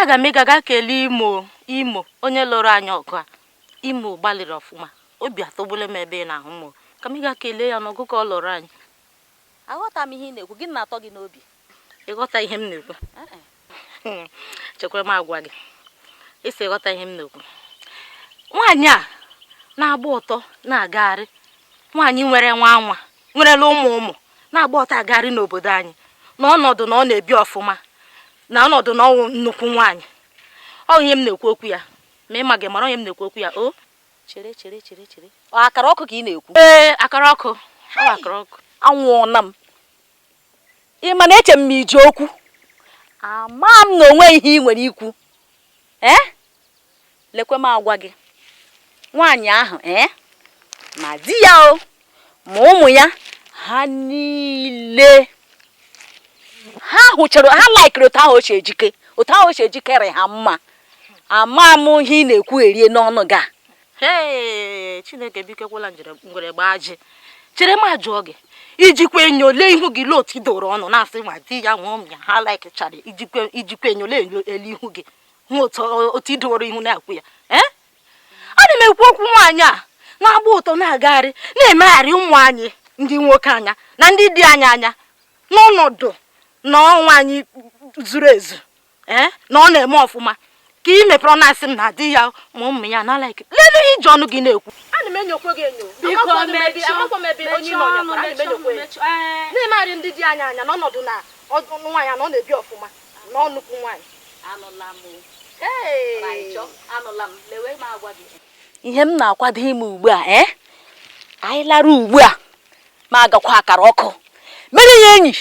aga m ịga ga kelee imo imo onye lụrụ anyị ọgụ a imo gbalịrị ọfụma obi atọgbule m ebe ị na-ahụ m ka m ga kelee ya n'ọgụ ka ọ lụrụ anyị aghọta m ihe ị na-ekwu gịnị na-atọ gị n'obi ị ghọta ihe m na-ekwu chekwara m agwa gị ị sị ị ghọta ihe m na-ekwu nwaanyị a na-agba ọtọ na-agagharị nwaanyị nwere nwa nwa nwerela ụmụ ụmụ na-agba ọtọ agagharị n'obodo anyị na ọnọdụ na ọ na-ebi ọfụma na ọnọdụ na ọ wụ nnukwu nwaanyị onye m na-ekwu okwu ya ma ị ma gị mara onye m na-ekwu okwu ya o chere chere chere chere akara ọkụ ka ị na-ekwu ee akara ọkụ ọ akara ọkụ anwụọna m Ị ma na eche m ma i ji okwu. Ama m na o nwe ihe ị nwere ikwu. Ee? Eh? Lekwe m agwa gị. Nwaanyị ahụ ee eh? ma di ya o ma ụmụ ya ha niile ha hụchara ha laikiri otu ahụ o si ejike otu ahụ o si ejike rị ha mma ama m ihe ị na-ekwu erie n'ọnụ gị a hee chineke biko ekwela ngwere gbaa ajị chere m ajụọ gị i jikwa enyo lee ihu gị lee otu i doro ọnụ na-asị ma di ya ma ụmụ ya ha laikchara i jikwa enyo lele ihu gị hụ otu i doro ihu na-ekwu ya ee eh? ana m ekwu okwu nwaanyị a na-agba ọtọ na-agagharị na-emegharị ụmụ anyị ndị nwoke anya na ndị di anyị anya n'ọnọdụ na ọ nwaanyị zuru ezu ee na ọ na-eme ọfụma ka ị mepere ọnụ na-asị m na di ya ma ụmụ ya na like lelee ihe i ji ọnụ gị na-ekwu ana m enyokwe gị enyo na-emegharị ndị di anyị anya n'ọnọdụ na nwaanyị na ọ na-ebi ọfụma na ọ nnukwu nwaanyị ihe m na-akwado ime ugbu a ee eh? anyị lara ugbu a m agakwa akara ọkụ mere ya enyi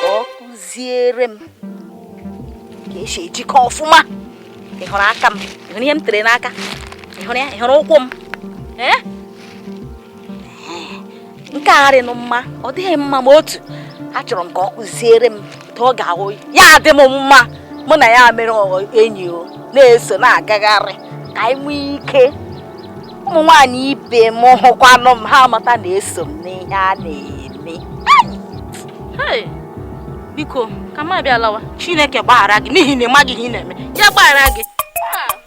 ka ọ kụziere m ka e si ejike ọfụma ị hụrụ aka m ị hụrụ ihe m tere n'aka ị hụrụ ya ị hụrụ ụkwụ m nke a arịnụ mma ọ dịghị mma ma otu achọrọ m ka ọ kụziere m ka ọ ga-ahụ ya adị m mma mụ na ya mere enyi o na-eso na-agagharị ka anyị nwee ike ụmụ nwaanyị ibe m hụkwanụ m ha amata na eso m n'ihe a na-eme biko ka m abịa lawa chineke gbaghara gị n'ihi na ị maghị ihe ị na-eme ya gbaghara gị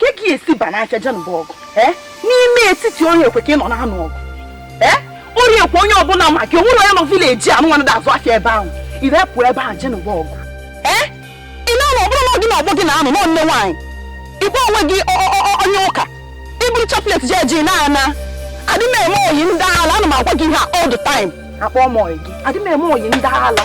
ka ị e esi ba n'aka jen bụ ọgụ eh? n'ime etiti orie ekwe ka ị nọ na-anụ ọgụ eh? orie ekwe onye ọbụla ma gị o nwere onye nọ village anụ nwanne da azụ afịa ebe ahụ irepụ ebe ahụ jen bụ ọgụ eh? ị na-anọ ọ bụrụ na ọ gị na ọgbọ gị na-anọ nọ nne nwaanyị ị kpọ onwe gị onye ụka i buru chaplet ji eje na-ana adị m eme oyi ndị ala ana m agwa gị ihe all the time akpọ m oyi gị adị m eme oyi ndị ala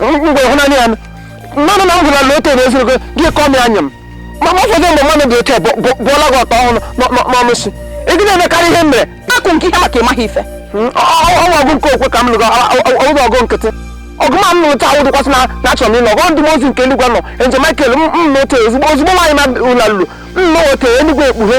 mgbe hụ naanị ya mmanụ na ngwụla na otu na-ezuru gị gị kọọ m ya anya m ma ma ụfọdụ mgbe mmadụ dị otu a bụ- bụ- bụọla gị ọtọ ọhụrụ n'ọ- n'ọ- n'ọnụ si ị gị na-emekarị ihe m mere akụ nke ihe maka ịmaghị ife Mm, ọ- ọ- ọ- ọgụ nke okwe ka m lụrụ ọgụ ọgụ nkịtị ọgụ ma m lụrụ taa ụdịkwasị na na achọrọ m ịlụ ọgụ ndị mmụọ ozi nke eluigwe na angel Michael m m na otu ozugbo ozugbo nwaanyị ma ụla lụrụ m na otu eluigwe ekpughe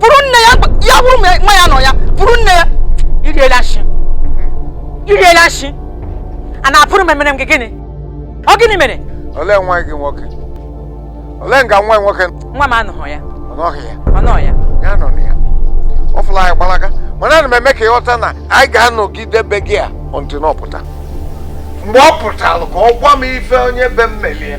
bụrụ nne ya ya bụrụ nwa ya nọ ya bụrụ nne ya i riela nshị i riela nshị a na-apụrụ m emere m gị gịnị ọ gịnị mere olee nwa gị nwoke olee nga nwa nwoke nwa m anọghị ya ọ nọghị ya ọ nọ ya ya nọ na ya ọ fụla anyị gbalaga mana ana m eme ka ị ghọta na anyị ga-anọgide be gị a until ọ pụta mgbe ọ pụtara ka ọ gwa m ife onye be m melụ ya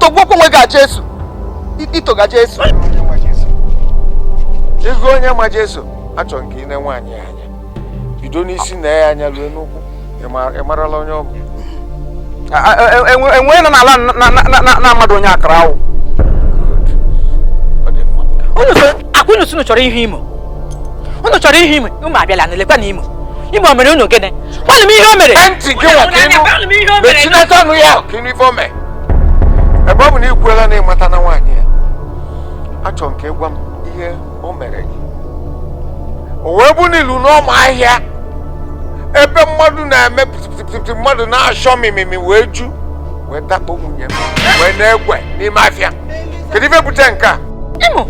tọgbọkwa onwe gị a Jesu itoga Jesu ego onye ma Jesu achọrọ nke i nee nwaanyị a anya bido n'isi nee ya anya ruo n'ụkwụ ị marala onye ọ bụ enwe nọ n'ala na mmadụ onye akara awụ ọ kwa unu sị unu chọrọ ịhụ Imo unu chọrọ ịhụ Imo Imo abịala na lekwanụ Imo Imo mere unu gịnị gwanụ m ihe o mere gwanụ m ihe o mere ebe ọ bụ na ị kwuola na ị matana nwaanyị a achọrọ m ka ị gwa m ihe o mere gị o wee bụ n'ilu n'ọma ahịa ebe mmadụ na-eme pịtịpịtịpịtị mmadụ na-achọ mimimi wee ju wee dakpo nwunye m wee na-egwe n'ime afịa kedu ife bute nke a Imo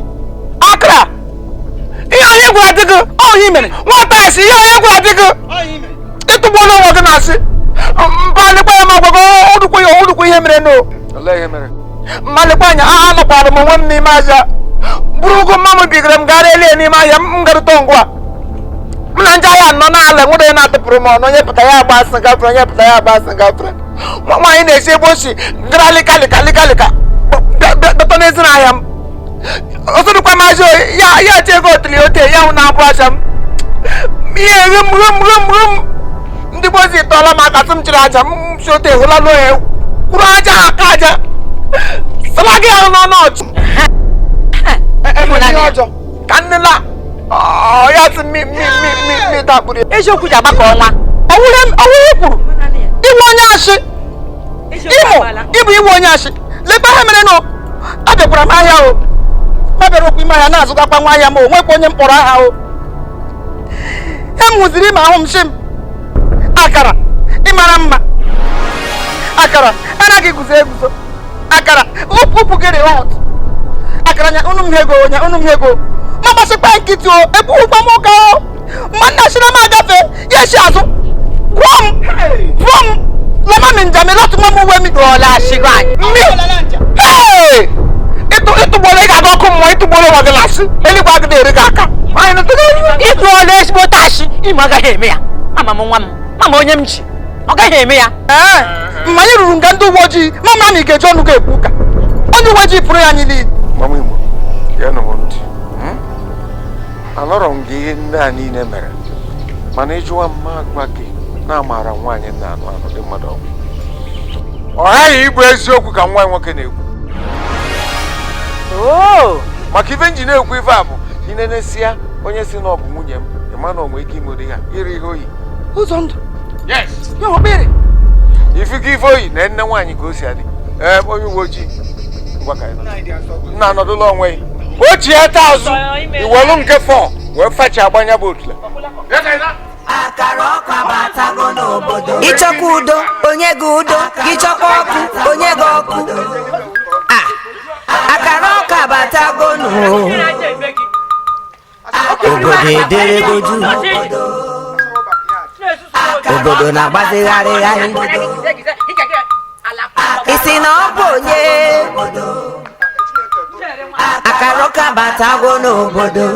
akara ihe onye gwara di gị ọ ihe i mere nwata a si ihe onye gwara di gị ị tụgbuola onwe gị n'asị mba lekwa ya ma gwago ọdụkwa ya ọdụkwa ihe merenụ mba lekwa anya a anọkwara m onwe m n'ime ahịa buru ogo mma m bigara m gara elie n'ime ahịa m garụta ngwa m na ndị ahịa nọ n'ala nwere onye na-atụpụrụ m ọnụ onye pụta ya agba asị gafere onye pụta ya agba asị gafere nwaanyị na-esi ebe o si gara lịka lịka lịka lịka dọta n'ezi n'ahịa m ọsọdụkwa maazị oyi ya ya tie ego otili ote ya hụ na-abụ ahịa m ihe rum rum rum rum ndị gboo si tọọla m aka tụ m chịrị ahịa m si ote hụla n'ohe kwuru aja aka aja sala gị ahụ n'ọnụ ọchụ ka nnela ọya tụ mi mi mi mi mi dakpuru eziokwu ji agbakọ ọnwa ọwụrụ kwuru ị bụ onye asị Imo ị bụ iwe onye asị lekwa ihe merenụ abịakwara m ahịa o ma bịara okwu ime ahịa na-azụgakwa nwa ahịa m o nwekwa onye m kpọrọ aha o ihe m hụziri Imo ahụ m sị m akara ị mara mma akara anaghị eguzo eguzo akara ukwu gị rị hot akara nya unu m hego nya unu m hego m agbachikwa nkịtị o ekwughịkwa m ụka o mmanna si na m agafe ya esi azụ gwụọ m gwụọ m lama mi njami lọtụ nwa m uwe mi dọọla asịgo anyị mi ịtụgboro ị ga-aga ọkụ mmụọ ịtụgboro nwa gị lasị eluigwe agịdị eri gị aka ịtụọla ezigbo tashi Imo agaghị eme ya ama m nwa m ama m onye m ji ọ gaghị eme ya ee ma anyị ruru nga ndị uwe ojii ma mara na ị ga-eji ọnụ ga-ekwu ụka onye uwe ojii pụrụ ya niile anọrọ m nga ihe ndị a niile mere mana ị jụwa m m agwa gị na a mara nwaanyị na anụ anụ dị mmadụ ọgwụ ọ ghaghị ịbụ eziokwu ka nwa nwoke na-ekwu oh! maka ife m ji na-ekwu ife a bụ i nenesia onye sị na ọ bụ nwunye m ị ma na o nwe ike imeri ya iri ihe oyi ụzọ ndụ ife gị ife o yi na nne nwaanyị ka o si adị onye uwe ojii nna anọdụla onwe ya o ji ya taa azụ i welu nke fọ wee fachie agbanya bụ otule ị chọkwa udo o nye gị udo ị chọkwa ọkụ o nye gị ọkụ akara ọkụ abatago nụ obodo ederego juu obodo na-agbazigharịgharị ị sị na ọ bụ onye akara ọkụ abatago n'obodo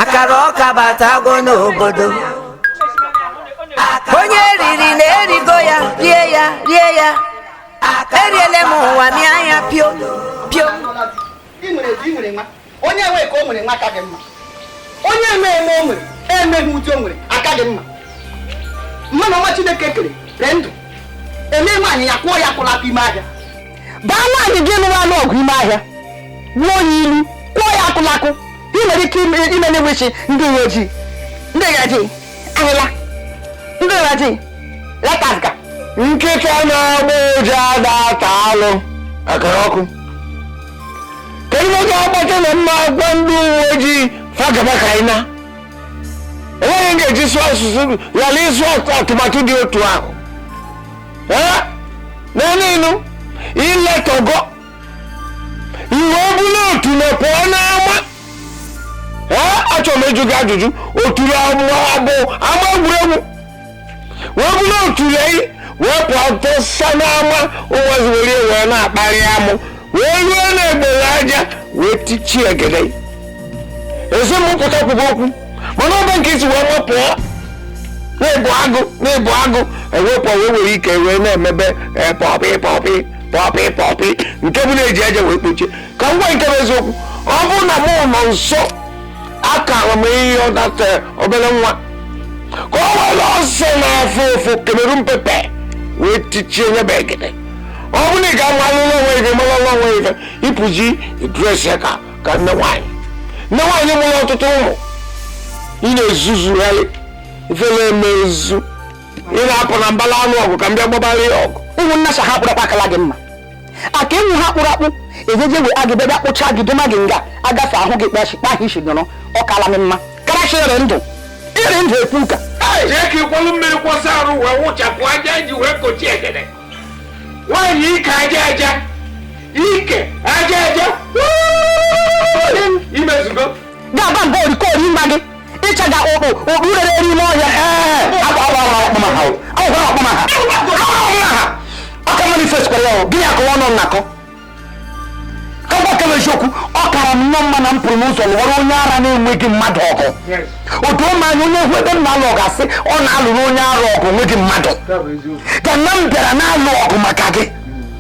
akara ọkụ abatago n'obodo onye riri na erigo ya rie ya rie ya eriele m ụwa mịa anya pio pio onye enweghị ka o nwere nwa aka dị mma onye eme eme o nwere emeghị ụdị o nwere aka dị mma mmanụ ọma chineke kere dị ndụ eme nwaanyị ya kụọ ya akụlakụ ime ahịa baa nwaanyị ji ọnụ anụ ọgụ ime ahịa gbuo ya ilu kụọ ya akụlakụ ị nwere ike ime na-enwechi ndị uwe ojii ndị uwe ojii ahịla ndị uwe ojii letaziga nkịta na-agba ụja ada ata alụ akara ọkụ kedu oge agbata na mma agwa ndị uwe ojii fa gaba ka anyị na enweghị m ga-eji sụọ asụsụ ghara ịsụ atụmatụ dị otu ahụ Ee? na n'ilu iletọgọ ire ọbụla otu na pụọ n'ama Ee? achọrọ m ịjụ gị ajụjụ otu na ama bụ ama egwuregwu wee bụrụ otu lei wee pụọ tụsa n'ama ụmụazị were ya wee na-akparị amụ wee ruo na-egbere aja wee tichie egede ezipụta kwugo okwu mana ọba nke isi wee mapụọ na-ebu agụ na-ebu agụ ewepụ wee were ike wee na-emebe eh, pọpị pọpị pọpị pọpị nke bụ na-eji aja wee kpochie ka ngwa nke bụ eziokwu ọ bụrụ na mụ nọ nso akara m ịyọ data obere nwa ka o were ose na-afụ ụfụ Cameroon pepper wee tichie nye bụ egede ọ bụrụ na ị ga-amalụ n'onwe ife malụ n'onwe ife ị pụzi dres ya ka ka nne nwaanyị nne nwaanyị mụrụ ọtụtụ ụmụ ị na-ezuzugharị ifele emezu ị na-apụ na mbala anụ ọgụ ka m bịa gbabara ya ọgụ ụmụnna sa ha kpụrụ akpụ akala gị mma aka enwu ha kpụrụ akpụ ejeje we agị bịa kpụcha gị doma gị nga agafe ahụ gị kpachi kpa ahụ isi nọrọ ọ kala m mma karachi ere ndụ ere ndụ ekwu ụka jee ka ị kwalụ mmiri kwọsa arụ wee wụchapụ aja ji wee kochie egede nwaanyị ike aja aja ike aja aja imezugo ga-aba mba orikori nwa gị ịchaga ụkpụ ụkpụ rere eri ime ọhịa ọka manifest kwara ya gịnị akọwa ọnụ nnakọ kọbakebe eziokwu ọ kara m nnọọ mma na m pụrụ n'ụzọ lụọrọ onye ara na-enweghị mmadụ ọgụ otu ụmụ anya onye hụ ebe m na-alụ ọgụ asị ọ na-alụrụ onye ara ọgụ o nweghị mmadụ ka na m bịara na-alụ ọgụ maka gị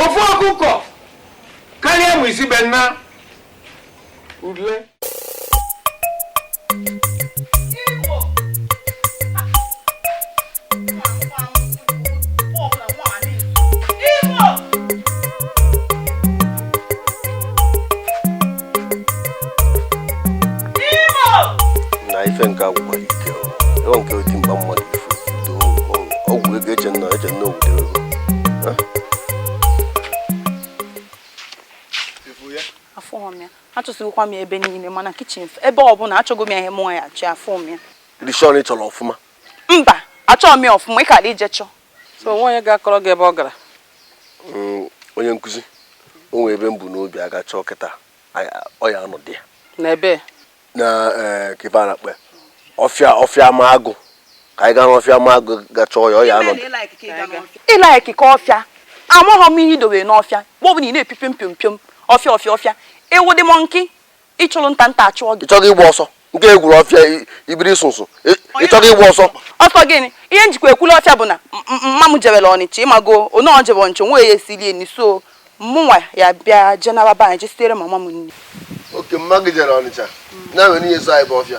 ofu ọkụkọ karịa mụ isi be nna ule na ife nke agwụgwa ike o. Ewa nke oti mgba mmadụ ifu do ọgwụ ego eche nna eche nna obodo ego afụghị m ya achọsịkwa m ya ebe niile ma na kichin ebe ọbụla achọgo m ya ihe mụọ ya achọ ya afụghị m ya are you sure na ị chọrọ ọfụma mba achọọ m ya ọfụma ị kara ije chọọ so o nwee onye ga-akọrọ gị ebe ọ gara mm, onye nkụzi o nwere ebe m bu n'obi aga chọọ kịta ọ ya-anọdị ya na ebe na eh, ebe a na-akpọ ọfịa ọfịa ma agụ ka anyị gaa n'ọfịa ma agụ ga chọọ ya ọ ya-anọdị ị laikika ọfịa amaghị m ihe i dowe n'ọfịa mgbe ọ bụla ị na-epipe mpio mpio ọfịa ọfịa ọfịa ị wụdị mọnkị ị chụrụ nta nta achụọ gị ịchọghị ịgba ọsọ nke egwuru ọfịa ibiri sụsụ ịchọghị ịgba ọsọ ọsọ gịnị ihe m jikwa ekwula ọfịa bụ na mama m jebere ọnịcha ị mago onye ọ jebe ọnịcha nwa ya esiri nri so mụnwa ya bịa jenara be anyị jesitere mama m nri okay mama gị jere ọnịcha na-enwe n'ihe so anyị bụ ọfịa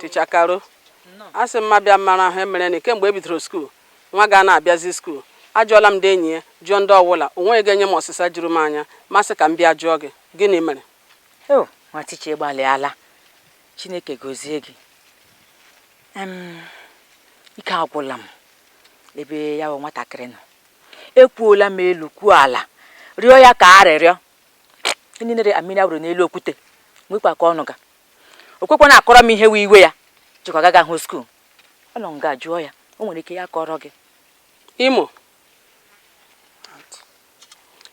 ticha karo asị m m bịa mara ihe mere na kemgbe e bidoro skuul nwa gị anaghị abịazi skuul ajụọla m ndị enyi ya jụọ ndị ọwụla o nweghị ga-enye m ọsịsa juru m anya m asị ka m bịa jụọ gị gịnị mere o oh, nwa ticha ịgbalịala chineke gozie gị ike agwụla m ebe ya bụ nwatakịrị nọ ekwuola m elu kwuo ala rịọ ya ka arịrịọ ndị nere mmiri a wụrụ n'elu okwute lekwa ka ọ nọ nga o kwekwana akọrọ m ihe wụ iwe ya jikwa agagahụ skuul ọ nọ nga jụọ ya o nwere ike ya kọrọ gị imo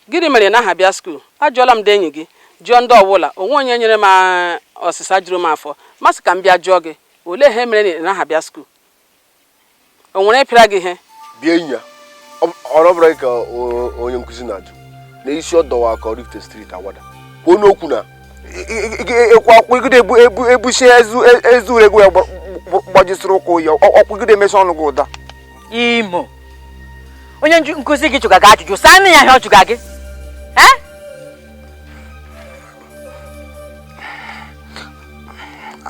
gịnị mere ị naghị abịa skuul ajụọla m ndị enyi gị jụọ ndị ọwụla o nweghị onye nyere m ah, ọsịsa juru m afọ m asị ka m bịa jụọ gị olee ihe mere na ị naghị abịa skuul o nwere onye pịara gị ihe bịa enyi a ọ bụrụ ka onye nkụzi na-ajụ na isi ọ dọwa ka oraifite street awada kwuo nụ okwu na ịkwụ akwụgide ebusi ezu egwu ya gbajisiri ụkwụ ya ọkwụgide emesi ọnụ gị ụda imo onye nkụzi gị jụga gị ajụjụ saanụ ya ihe ọ jụga gị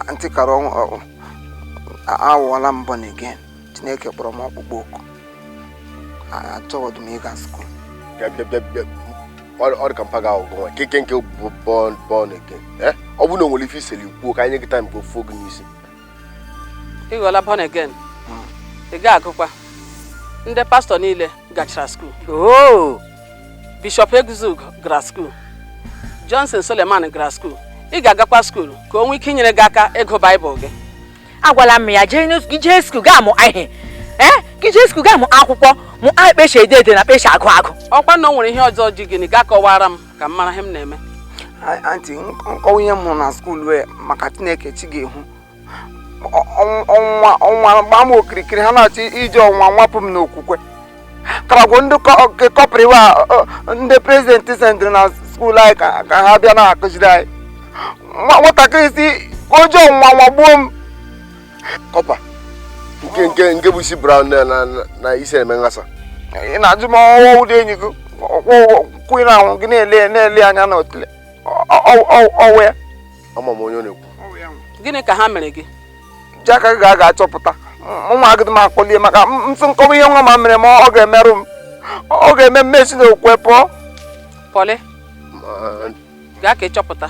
anti karo awụọla m born again chineke kpọrọ m ọkpụkpọ oku achọghọdụ m ịga skuul ọ dị ka mpa ga-ahụ gị nwa keke nke bụ born again ọ bụrụ na o nwere ife i seli kwuo ka anyị nye gị taim ka ọ fụọ gị n'isi ị ghọọla born again ị ga-agụkwa ndị pastọ niile gachara skuul oo bishọp eguzug gara skuul johnson suleman gara skuul ị ga-agakwa skuul ka o nwee ike inyere gị aka ịgụ baịbụl gị agwala m ya jee n'os- gị jee skuul gaa mụ ihe ee gị jee skuul gaa mụ akwụkwọ mụa kpa e si ede ede na kpa e si agụ agụ ọkwa na o nwere ihe ọzọ ji gị gị akọwara m ka m mara ihe m na-eme anti m kọwa ihe m hụrụ na skuul wee maka chineke chi ga-ehu ọnwa gbaa m okirikiri ha na-achọ iji ọnwa nwapụ m n'okwukwe karagwo ndị kọpa wa ndị prezidenti sendịrị na skuul anyị ka ha bịa na-akụziri anyị nwatakịrị sị ka o ji ọnwa nwagbuo m kọpa nke nke nke bụ isi brown na na na isi eme nghasa ị na-ajụ m ọ wụ ụdị enyi gị kwụ ị na-anọ gị na-ele na-ele anya na otule ọ wụ ya ama m onye ọ na-ekwu gịnị ka ha mere gị ji aka gị gaa chọpụta ụmụ agịdị m akọli ya maka ntụ m kọwa ihe nwa ma mere m ọ ga-emerụ m ọ ga-eme m si n'okwukwe pụọ pọlị Ma- gaa ka ị chọpụta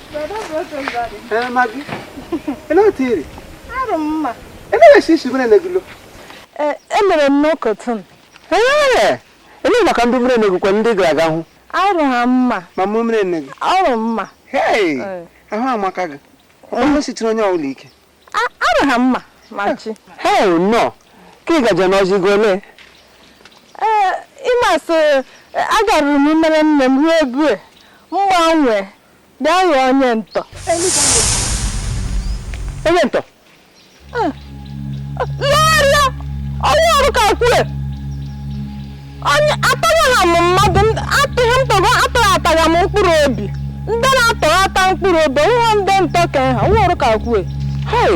emere m n'ụkọtụ ele maka ndị mmiri enegwu kwa ndị gara aga hụ arụ ha mma ma mụ mmiri enegwu arụ mma ahụ amaka gị onye sitere onye ọbụla ike arụ ha mma ma chi hell no ka ị gaje n'ozi gị ole ịmasị agaruru m mere nne m ruo ebue mgbanwe Bịa ghọọ onye ntọ. Onye ntọ? Lọrịa! Ọwụ ọrụ ka kwue! Onye atọghịla m mmadụ, atụghị m tọgọ, atọghị atagha m mkpụrụ obi. Ndị na-atọghị ata mkpụrụ obi, wụ ndị ntọ ka ha, ọwụ ọrụ ka kwue. Hey!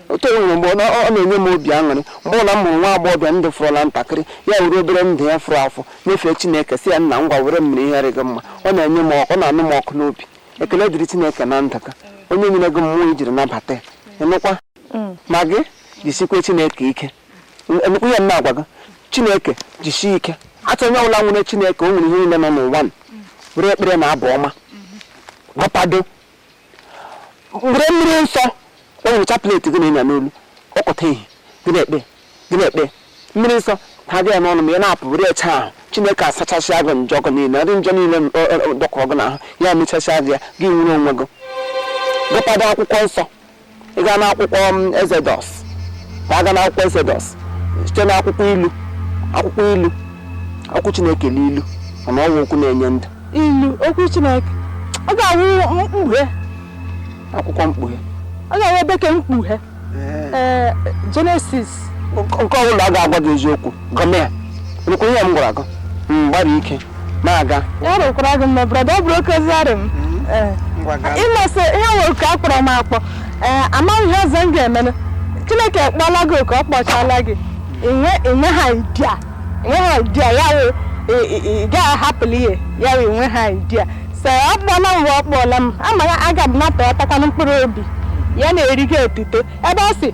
otu o nwere mgbe ọ na-enye m obi aṅụrị mgbe ụla m hụrụ nwa agbọghọbịa ndụ fọrọla ntakịrị ya were obere ndụ ya fọrọ afọ nyefee chineke sị ya nna ngwa were m mere ihe rị gị mma ọ na-enye m ọkụ ọ na-anụ m ọkụ n'obi ekele dịrị chineke na ndụ ka onye nyere gị mmụọ i jiri nabata ya ịnụkwa ma gị jisikwe chineke ike ịnụkwa ihe m na-agwa gị chineke jisie ike achọ onye ọbụla nwere chineke o nwere ihe niile nọ n'ụwa were ekpere na abụ ọma gụpado were mmiri nsọ were chaplet gị na-enya n'olu ọkọta ehi gị na-ekpe gị na-ekpe mmiri nsọ ha gị ya n'ọnụ ma ị na-apụ were eche ahụ chineke asachasịa gị njọ gị niile ndị njọ niile dọkọrọ gị n'ahụ ya emechasịa gị ya gị nwere onwe gị gụpado akwụkwọ nsọ ị gaa n'akwụkwọ Exodus ma a gaa n'akwụkwọ Exodus site n'akwụkwọ ilu akwụkwọ ilu okwu chineke n'ilu mana ọ wụ okwu na-enye ndụ ilu okwu chineke ọ ga-awụ mkpughe akwụkwọ mkpughe ọ ga-awụ ebe ke mkpughe ee Genesis nke ọ bụla a ga-agwa gị eziokwu gụmịa ị nụkwara ihe m gwara gị gbara ike na-aga ya rụkwara gị mma brother ọ bụrụ oke ozi arị m Ee. ngwa gaa ịmasị ihe nwere ka a kpọrọ m akpọ ee amaghị ihe ọzọ m ga-emenụ chineke kpọla gị oku ọ kpọchala gị inwe inwe ha idea inwe ha idea ya wụ ị- ị- ị gaghị ahapụla ihe ya wụ inwe ha idea so ọ kpọla m wee ọ kpọla m amaghị aga m napụ ya takwanụ mkpụrụ obi ya na-eri gị otuto ebe ọ sị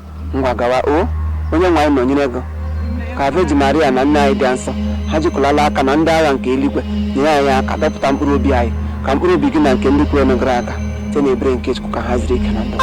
Ngwa gawa o onye nwe anyị nọnyere gị ka Virgin Maria na nne anyị dị nsọ ha jikọlala aka na ndị agha nke eluigwe nyere anyị aka dọpụta mkpụrụ obi anyị ka mkpụrụ obi gị na nke ndị kwere gara aga site na ebere nke Chukwu ka ha zuru ike na ndụ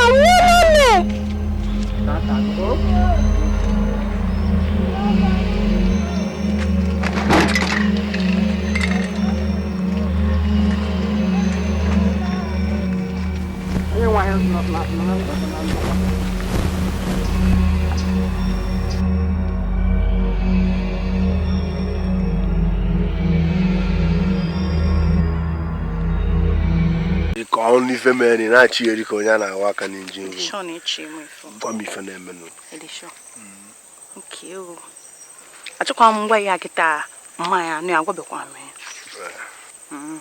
ka m nụ ife mere na-achị eri ka onye a na-awa aka n'injin ru gwa m ife na-emenụ achọkwa m ịma ya kịta mmanya anụ ya gwabekwa m ya mm.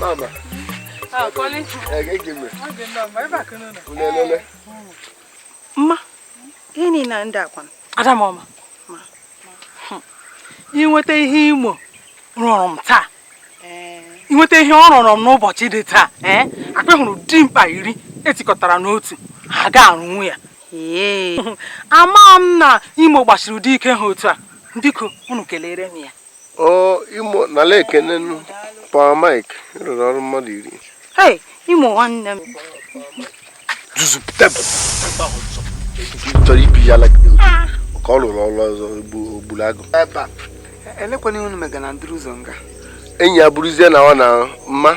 Mama. Ah, Colin. Eh, give me. What's the number? Ever can know. Ulelele. Ma. Ini na ndị akwa. Ada mama. Ma. Hmm. I nweta ihe Imo rụrụ m taa. Eh. I nweta ihe ọ rụrụ m n'ụbọchị dị taa. Eh. Ekwehuru m dimkpa iri e tikọtara n'otu. Ha ga-arụnwu ya. Ee. Ama m na Imo gbasiri ụdị ike ha otu a. Biko, unu kelere m ya. ọ Imo nara ekene nụ Power Mike rụrụ ọrụ mmadụ iri Hey, Imo nwanne m. zuzu tebụl chọrọ ibi ya like this. ka ọ rụrụ ọrụ ọzọ egbu- ogburu agụ ebe a elekwana ihe unu mega na ndịrị ụzọ nga enyi ya bụrụzie na ọ na mma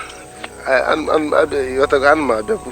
a- a- a- a- ịghọtago ana m abịakwu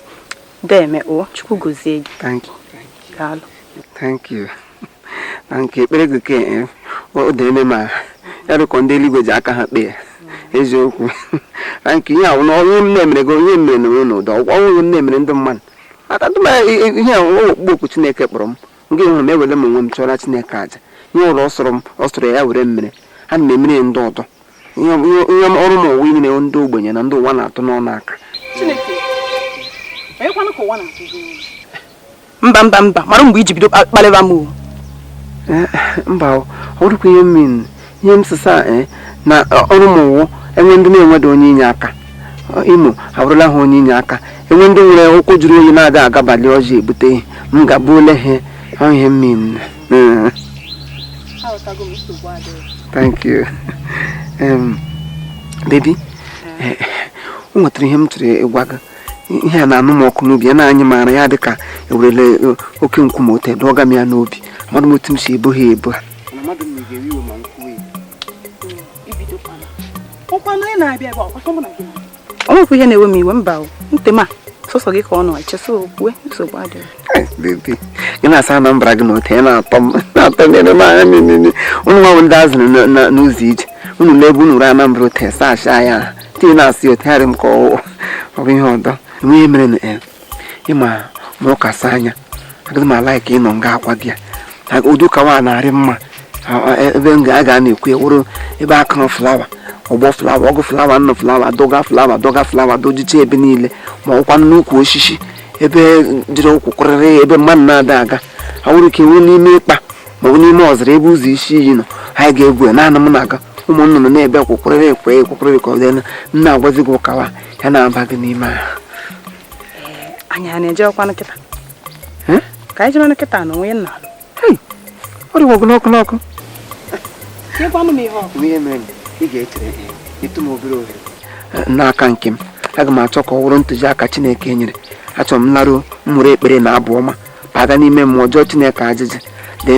Deme o Chukwu gozie gị. Thank you. Daalụ. Thank you. Thank you. Ekpere gị ke eh, o deme m ya dị ka ọ ndị eluigwe ji aka ha kpee eziokwu thank you ihe a na ọrụ m na-emere gị onye mere na onye n'ụdị ọrụ m na-emere ndị mmadụ aka tụma ihe a ọkpụkpọ oku Chineke kpọrọ m nke hụrụ m ewere m onwe m chụọrọ Chineke aja ihe ọ bụla ọ sọrọ m ọ sọrọ ya were m mere ana m emere ndị ọdọ ihe ọrụ m wụ inyere ndị ogbenye na ndị ụwa na-atụ n'ọnụ aka mba mba mba mara mgbe i ji bido kpalịba m eh, mba ọ bụdịkwa ihe m mean ihe m sịsa eh, na ọrụ m wụ e nwe ndị na-enweda onye inye aka Imo abụrụla ha onye inye aka e nwe ndị nwere ụkwụ juru oyi na-ada agabalị ọjị ebute m ga-ebuoro ha ihe m mean thank you um, baby eh, o nwetara ihe m chọrọ ịgwa gị ihe a na-anụ m ọkụ n'obi ya na-anyị m arọ ya dị ka e werele eh, oke nkume ote dọga m ya n'obi amadụ m otu m si ebu ha ebu ha o nwekwa ihe na-ewe m iwe mba ntị ma sọsọ gị ka m nọ echesa okwe nsogbu adịghị gị na asa Anambra gị na ote na-atọ m na-atọ m ere m anya niile ụmụ nwanyị ndị a zuru n'ụzọ ije unu lee ebe unu ruo Anambra ote saa asha ya tinye na-asị otegharị m ka ọ bụ ihe ọdọ enweghị mere na ịma ma ọ kasị anya agaghị m ala ka ị nọ nga akwa gị ya Aga- ụdị ụka nwa na-arị mma A- a- ebe m ga- a ga na-ekwu ya wụrụ ebe a kụrụ flawa ọgbọ flawa ọgụ flawa nnụ flawa dọga flawa dọga flawa dojicha ebe niile ma ọkwa n'ukwu osisi ebe jiri ụkwụ kụrịrị ebe mmadụ na-ada aga ha nwere ike nwee n'ime ikpa ma ọ bụ n'ime ọzara ebe ụzọ isi iyi nọ anyị ga-ekwu ya naanị m na gị ụmụ nnụnụ na-ebe kwụkwụrịrị ekwe ekwụkwụrịrị ka ọ dị anya m na-agwazi gị ụka nwa ya na-aba gị n'ime ahụ anyị a na-eje ọkwa kịta ka anyị jebe kịta na onwe nna ọ dịwa ọkụ n'ọkụ n'ọkụ ihe mere ị ga-echeretụ m obere ohere n'aka nke m aga m achọ ka ọ wụrụ ntụziaka Chineke nyere achọrọ m laruo m buru ekpere na abụ ọma baga n'ime mmụọ jụọ chineke ajụjụ ndị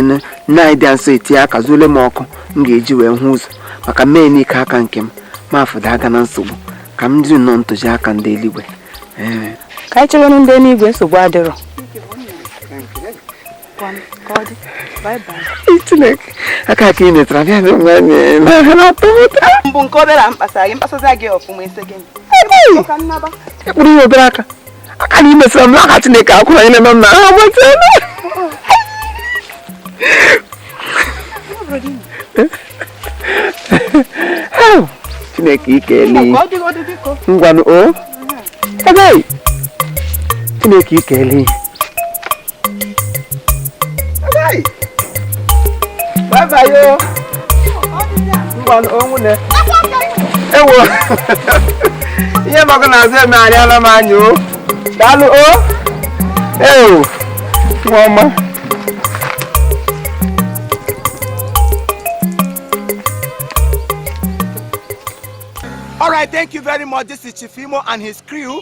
nna anyị dị nsọ etinye aka zuole m ọkụ m ga-eji wee hụ ụzọ maka m mee n'ike aka nke m ma afụda aga na nsogbu ka m jiri nnọọ ntụziaka ndị eluigwe ee ka anyị chewenụ ndị eluigwe nsogbu adịrọ chineke aka ka ị metara bịa dị nwa anyị n'ahịa na-atọ m ụtọ mbụ nke obere a mkpasara gị mkpasara gị ọfụma ese gị ekpụrụ ya obere aka aka na imesịra m n'aka Chineke akwụ na nyere m na ha agbata Chineke ike eli ngwanụ o Chineke ike eli bye bye o ngwanụ o nwunne ewo ihe maka na azụ eme arịala m anya o daalụ o ewo nwa ọma All right, thank you very much. This is Chief Imo and his crew.